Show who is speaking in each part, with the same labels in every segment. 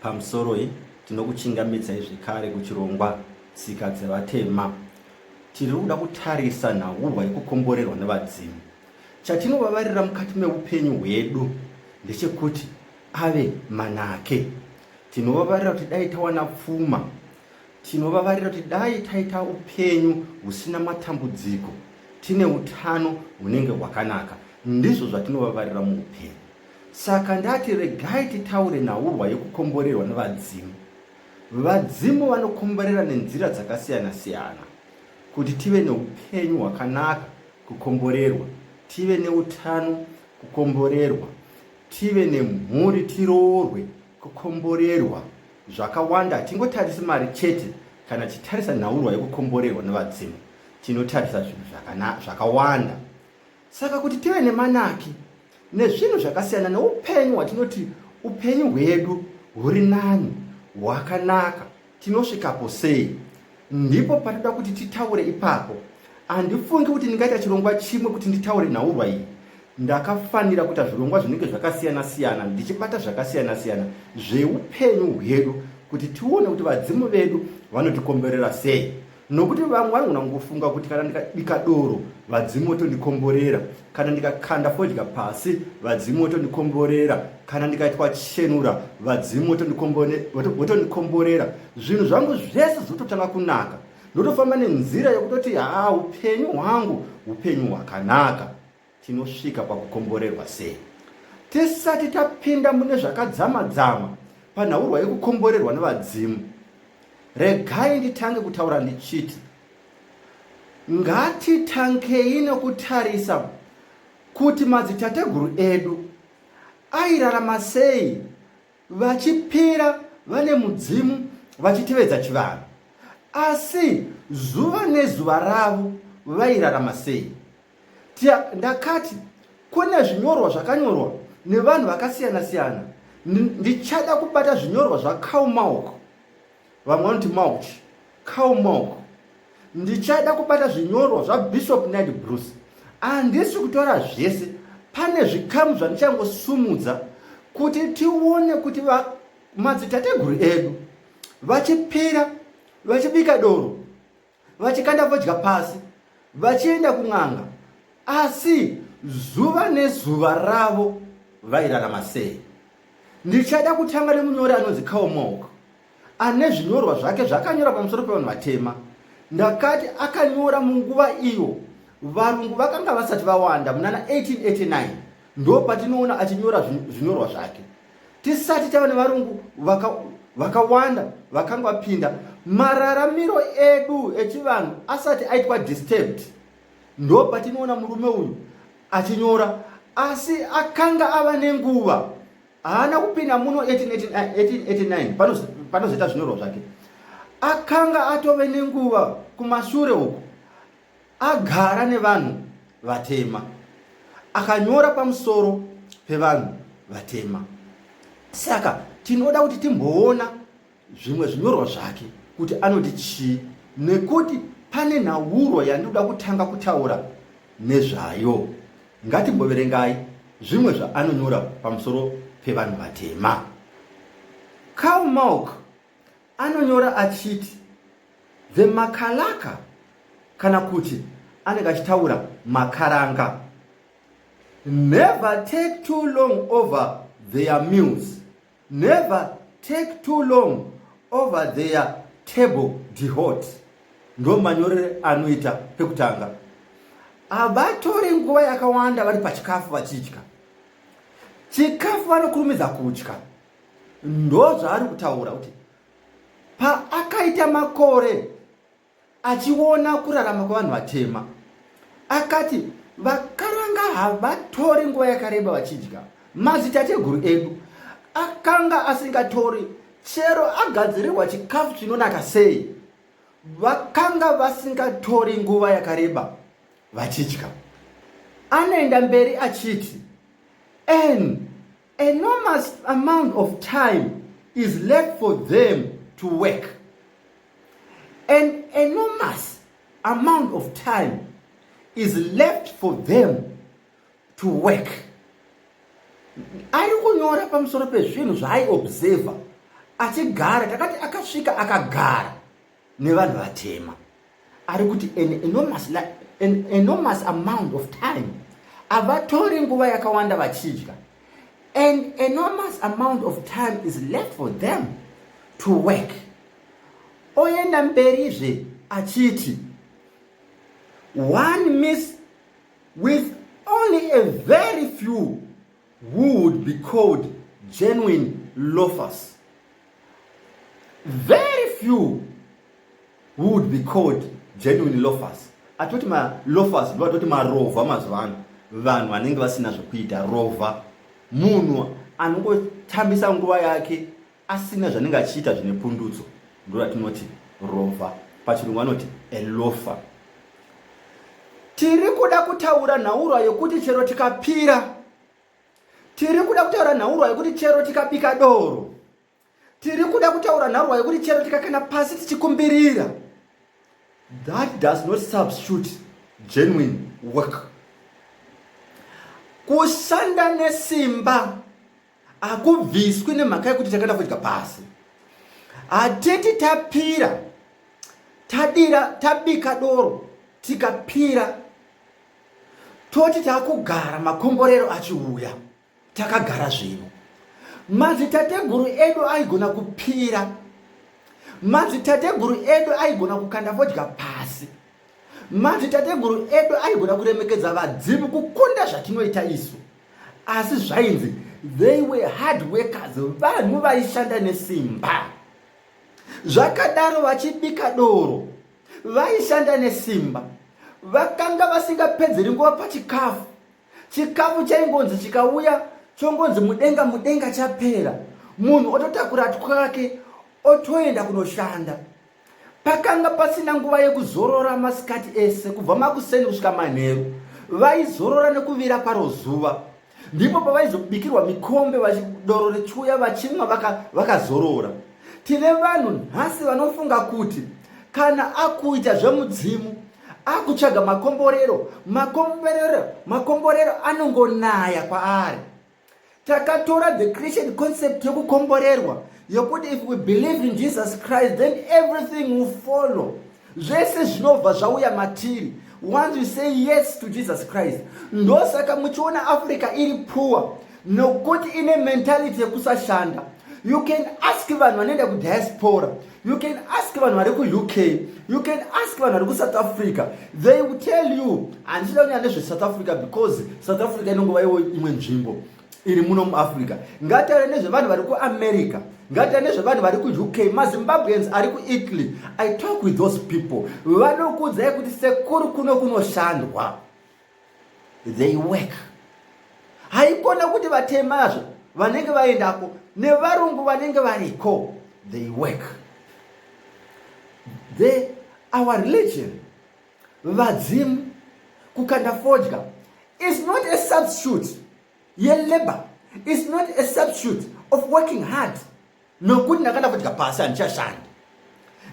Speaker 1: Pamusoroi, tinokuchingamidzai zvekare kuchirongwa Tsika dzeVatema. Tiri kuda kutarisa nhaurwa yekukomborerwa nevadzimu. Chatinovavarira mukati meupenyu hwedu ndechekuti ave manake. Tinovavarira kuti dai tawana pfuma. Tinovavarira kuti dai taita upenyu husina matambudziko, tine utano hunenge hwakanaka. Ndizvo zvatinovavarira muupenyu. Saka ndati regai titaure nhaurwa yekukomborerwa nevadzimu. Vadzimu vanokomborera nenzira dzakasiyana siyana kuti tive neupenyu hwakanaka kukomborerwa, tive neutano kukomborerwa, tive nemhuri tiroorwe kukomborerwa. Zvakawanda hatingotarisi mari chete kana tichitarisa nhaurwa yekukomborerwa nevadzimu tinotarisa zvinhu zvakawanda. Saka kuti tive nemanaki nezvinhu zvakasiyana neupenyu hwatinoti upenyu hwedu huri nani hwakanaka tinosvikapo sei ndipo patida kuti titaure ipapo handifungi kuti ndingaita chirongwa chimwe kuti nditaure nhaurwa iyi ndakafanira kuita zvirongwa zvinenge zvakasiyana siyana ndichibata zvakasiyana siyana zveupenyu hwedu kuti tione kuti vadzimu vedu vanotikomberera sei nokuti vamwe vanogona kungofunga kuti kana ndikabika doro vadzimu votondikomborera kana ndikakanda fodya pasi vadzimu votondikomborera kana ndikaitwa chenura vadzimu votondikomborera zvinhu zvangu zvese zvototanga kunaka ndotofamba nenzira yokutoti haa upenyu hwangu upenyu hwakanaka Tinosvika pakukomborerwa sei? Tisati tapinda mune zvakadzama-dzama panhaurwa yekukomborerwa nevadzimu, regai nditange kutaura ndichiti ngatitangei nokutarisa kuti madzitateguru edu airarama sei vachipira vane mudzimu vachitevedza chivanhu asi zuva nezuva ravo vairarama sei Tia, ndakati kune zvinyorwa zvakanyorwa nevanhu vakasiyana siyana ndichada kubata zvinyorwa zvacow milk vamwe vanoti mauch cow milk ndichada kubata zvinyorwa zvabishop ned bruce handisi kutora zvese pane zvikamu zvandichangosumudza kuti tione kuti madzitateguru edu vachipira vachibika doro vachikanda fodya pasi vachienda kun'anga asi zuva nezuva ravo vairarama sei ndichada kutanga nemunyori anonzi kaomok ane zvinyorwa zvake zvakanyora pamusoro pevanhu vatema ndakati akanyora munguva iyo varungu vakanga vasati vawanda munana 1889 ndo patinoona achinyora zvinyorwa zvake tisati tava nevarungu vakawanda vaka vakanga vapinda mararamiro edu echivanhu asati aitwa disturbed ndo patinoona murume uyu achinyora asi akanga ava nenguva haana kupinda muno 1889 panozoita zvinyorwa zvake akanga atove nenguva kumashure uku Agara nevanhu vatema. Akanyora pamusoro pevanhu vatema. Saka tinoda kuti timboona zvimwe zvinyorwa zvake kuti anoti chii nekuti pane nhauro yandinoda kutanga kutaura nezvayo. Ngatimboverengai zvimwe zvaanonyora pamusoro pevanhu vatema. Karl Malk Anonyora achiti the makalaka kana kuti anenge achitaura makaranga. Never take too long over their meals. Never take too long over their table dehot ndo manyorere anoita pekutanga havatori nguva yakawanda vari pachikafu vachidya chikafu vanokurumidza kudya ndozvaari kutaura kuti paakaita makore achiona kurarama kwevanhu vatema akati vakaranga havatori nguva yakareba vachidya mazitateguru edu akanga asingatori chero agadzirirwa chikafu chinonaka sei vakanga vasingatori nguva yakareba vachidya anoenda mberi achiti n enormous amount of time is left for them to work an enormous amount of time is left for them to work ari kunyora pamusoro pezvinhu zvaaiobserver achigara takati akasvika akagara nevanhu vatema ari kuti an enormous, an enormous amount of time havatori nguva yakawanda vachidya an enormous amount of time is left for them to work oenda mberizve achiti one miss with only a very few who would be called genuine loafers very few who would be called genuine loafers atoti maloafers ndo atoti marovha mazuva ano vanhu vanenge vasina zvekuita rovha munhu anongotambisa nguva yake asina zvanenge achiita zvine pundutso ndoratinoti rova pachirungu vanoti elofa tiri kuda kutaura nhaurwa yokuti chero tikapira tiri kuda kutaura nhaurwa yokuti chero tikabika doro tiri kuda kutaura nhaurwa yokuti chero tikakana pasi tichikumbirira that does not substitute genuine work kushanda nesimba hakubviswi nemhaka yekuti takaenda kudya pasi hatiti tapira tadira tabika doro tikapira toti takugara makomborero achiuya takagara zvino madzitateguru edu aigona kupira madzitateguru edu aigona kukanda vodya pasi madzitateguru edu aigona kuremekedza vadzimu kukunda zvatinoita isu asi zvainzi they were hard workers vanhu vaishanda nesimba zvakadaro vachibika doro vaishanda nesimba vakanga vasingapedzeri nguva pachikafu chikafu chaingonzi chikauya chongonzi mudenga mudenga chapera munhu ototakura twake otoenda kunoshanda Pakanga pasina nguva yekuzorora masikati ese kubva makuseni kusvika manheru. Vaizorora nekuvira kwaro zuva. Ndipo pavaizobikirwa mikombe vachidoro rechuya vachimwa vakazorora. Vaka Tine vanhu nhasi vanofunga kuti kana akuita zvemudzimu akutsvaga makomborero, makomborero, makomborero anongonaya kwaari. takatora the christian concept yokukomborerwa yokuti if we believe in jesus christ then everything will follow zvese zvinobva zvauya matiri once you say yes to jesus christ ndosaka muchiona africa iri poor nokuti ine mentality yekusashanda you can ask vanhu vanoenda kudiaspora You can ask vanhu vari kuUK, you can ask vanhu vari kuSouth Africa. They will tell you handisida kunyanya nezveSouth Africa because South Africa inongova iwo imwe nzvimbo iri muno muAfrica. Ngatare nezvevanhu vari kuAmerica, ngatare nezvevanhu vari kuUK, maZimbabweans ari kuItaly. I talk with those people. Vanokuudzai kuti sekuru kuno kunoshandwa. they work haikona kuti vatemazve vanenge vaendako nevarungu vanenge variko they work the our religion vadzimu kukanda fodya is not a substitute yelabor is not a substitute of working hard nokuti ndakanda kudya pasi handichashandi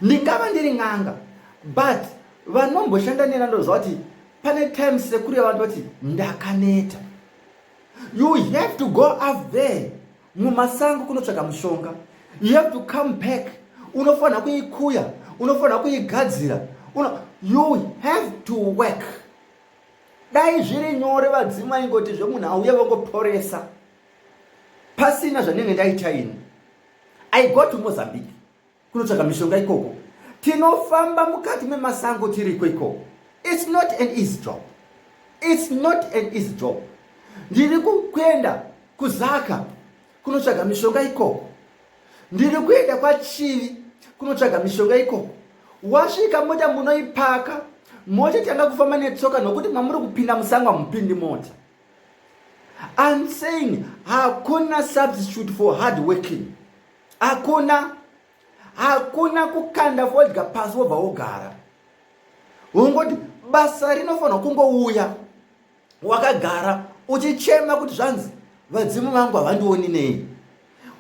Speaker 1: ndingava ndiri n'anga but vanomboshanda nena ndoziva kuti pane time sekuru yavanhu vati ndakaneta you have to go up there mumasango kunotsvaga mushonga you have to come back unofanira kuikuya unofanira kuigadzira you have to work dai zviri nyore vadzimu vaingoti zvemunhu auye vangoporesa pasina zvanenge ndaita ini i go to mozambique kunotsvaga mishonga ikoko tinofamba mukati memasango tiriko ikoko its not an easy job its not an easy job ndiri kuenda kuzaka kunotsvaga mishonga ikoko ndiri kuenda kwachivi kunotsvaga mishonga ikoko wasvika mota munoipaka mota tanga kufamba netsoka nokuti mamuri kupinda musango hamupindi mota I'm saying hakuna substitute for hard working hakuna hakuna kukanda fodya pasi wobva wogara ungoti basa rinofanirwa kungouya wakagara uchichema kuti zvanzi vadzimu vangu havandioni nei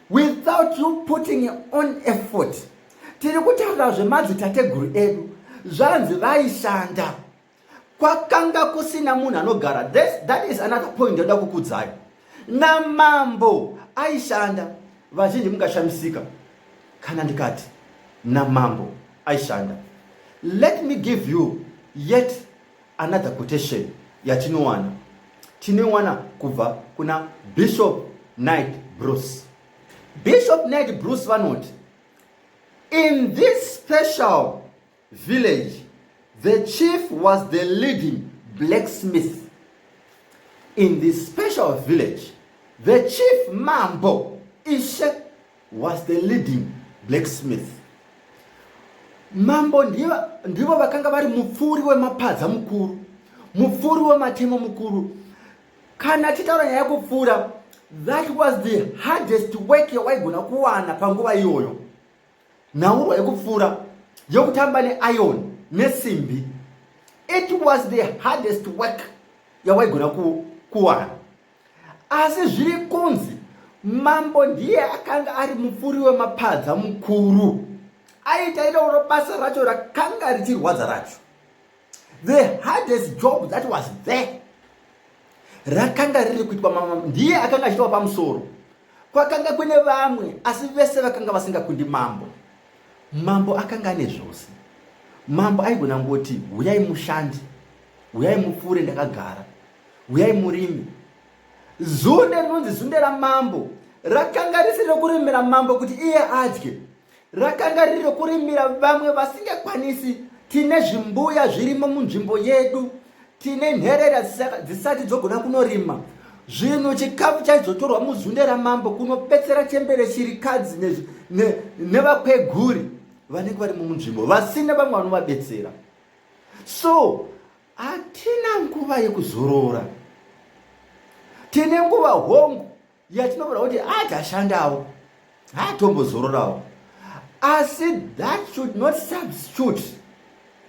Speaker 1: without you putting on effort tiri kutaura zvemadzitateguru edu zvanzi vaishanda kwakanga kusina munhu anogara that is another point ndoda kukudzai namambo aishanda vazhinji mungashamisika kana ndikati namambo aishanda let me give you yet another quotation yatinowana tinoiwana kubva kuna bishop night bruce bishop night bruce vanoti in this special village the chief was the leading blacksmith in the special village the chief mambo ishe was the leading blacksmith mambo ndivo vakanga vari mupfuuri wemapadza mukuru mupfuuri wematemo mukuru kana titaura nyaya yekupfuura that was the hardest work yawaigona kuwana panguva iyoyo nhaurwa yekupfuura yokutamba neiron nesimbi it was the hardest work yawaigona kuwana asi zviri kunzi mambo ndiye akanga ari mupfuri wemapadza mukuru aitairauro basa racho rakanga richirwadza racho the hardest job that was there rakanga riri kuitwa mama ndiye akanga achitawa pamusoro kwakanga kune vamwe asi vese vakanga vasingakundi mambo mambo akanga ane zvose mambo aigona ngoti huyai mushandi huyai mupfuure ndakagara huyai murimi zunde rinonzi zunde ramambo rakanga risiri rokuremera mambo kuti iye adye rakanga riri rekurimira vamwe vasingakwanisi tine zvimbuya zvirimo munzvimbo yedu tine nherera dzisati dzogona kunorima zvinhu chikafu chaizotorwa muzunde ramambo kunopetsera chembere chirikadzi nevakweguri ne, ne vanenge vari mumunzvimbo vasina vamwe vanovabetsera so hatina nguva yekuzorora tine nguva hongu yatinoona kuti haachashandawo haatombozororawo asi that should not substitute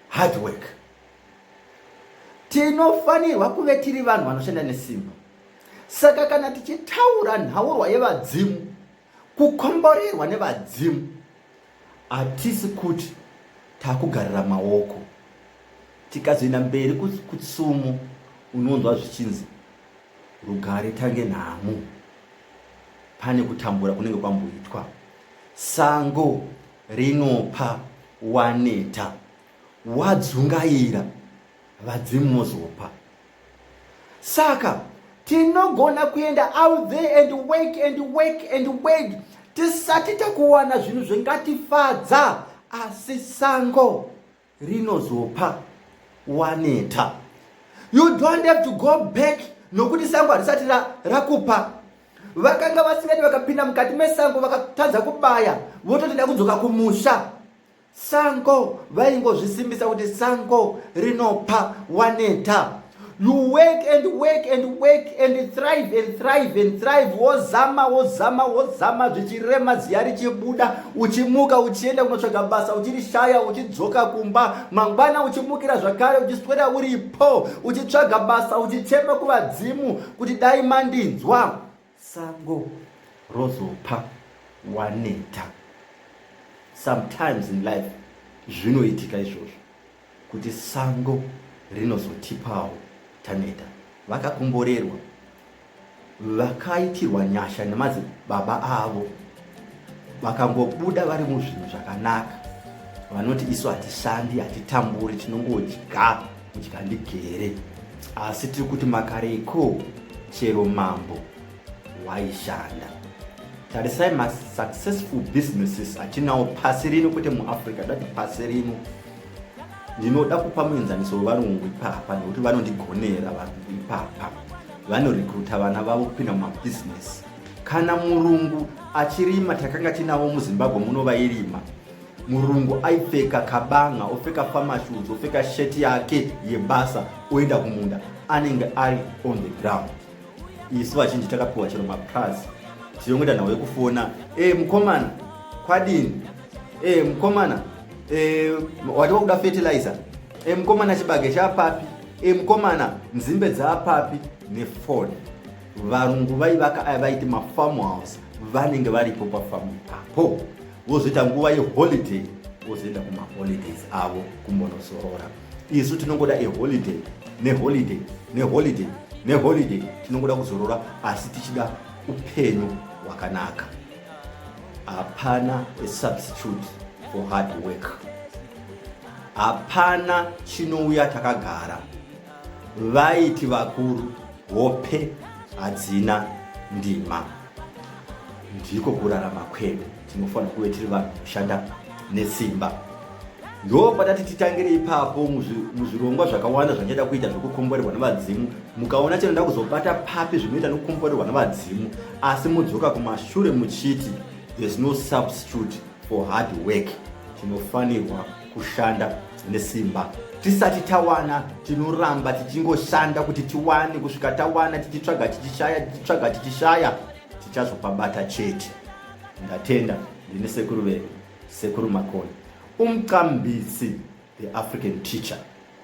Speaker 1: hard work tinofanirwa kuve tiri vanhu vanoshanda nesimba saka kana tichitaura nhaurwa yevadzimu kukomborerwa nevadzimu hatisi kuti takugarira maoko tikazoenda mberi kutsumo unonzwa zvichinzi rugare tange nhamo pane kutambura kunenge kwamboitwa sango rinopa waneta wadzungaira vadzimu mozopa saka tinogona kuenda out there and work and work and work tisati takuwana zvinhu zvingatifadza asi sango rinozopa waneta you don't have to go back nokuti sango harisati rakupa vakanga vasingati vakapinda mukati mesango vakatadza kubaya vototida kudzoka kumusha sango vaingozvisimbisa kuti sango rinopa waneta you work and work and work and thrive and thrive and thrive wozama wozama wozama zvichirema ziya richibuda uchimuka uchienda kunotsvaga basa uchirishaya uchidzoka kumba mangwana uchimukira zvakare uchiswera uripo uchitsvaga basa uchichema kuvadzimu kuti dai mandinzwa Sango rozopa waneta. Sometimes in life zvinoitika izvozvo kuti sango rinozotipawo taneta. Vakakomborerwa vakaitirwa nyasha nemadzibaba avo vakangobuda vari muzvinhu zvakanaka vanoti isu hatishandi hatitamburi tinongodya kudya ndigere asi tiri kuti makareiko chero mambo waishanda tarisai masuccessful businesses atinawo pasi rino kwete muafrica dati pasi rino ndinoda kupa muenzaniso wevarungu ipapa nekuti vanondigonera varungu ipapa vanorekruta vana vavo kupinda mumabhizinesi kana murungu achirima takanga tinavo muzimbabwe muno vairima murungu aipfeka kabanga opfeka famashuz opfeka sheti yake yebasa oenda kumunda anenge ari on the ground isu vachinji takapiwa chero mapraz tinongoita nhau yekufona e eh, mukomana kwadini e eh, mukomana e eh, wati wakuda fertilizer e mukomana chibage chapapi e mukomana nzimbe dzapapi nefoni varungu vaivaka aya vaiti mafarm house vanenge varipo pafamu ipapo vozoita nguva yeholiday vozoenda kumaholidays avo kumbonosorora isu tinongoda eholiday neholiday neholiday neholiday tinongoda kuzorora asi tichida upenyu hwakanaka hapana asubstitute for hard work hapana chinouya takagara vaiti vakuru hope hadzina ndima ndiko kurarama kwedu tinofanira kuve tiri vanhu kushanda nesimba ndo patati titangire ipapo muzvirongwa zvakawanda zvandichada kuita zvekukomborerwa nevadzimu mukaona chinoda kuzobata papi zvinoita nokukomborerwa nevadzimu asi mudzoka kumashure muchiti there's no substitute for hard work tinofanirwa kushanda nesimba tisati tawana tinoramba tichingoshanda kuti tiwane kusvika tawana tichitsvaga tichishaya tichitsvaga tichishaya tichazopabata chete ndatenda ndine sekuru vedu sekuru makoni umcambisi the african teacher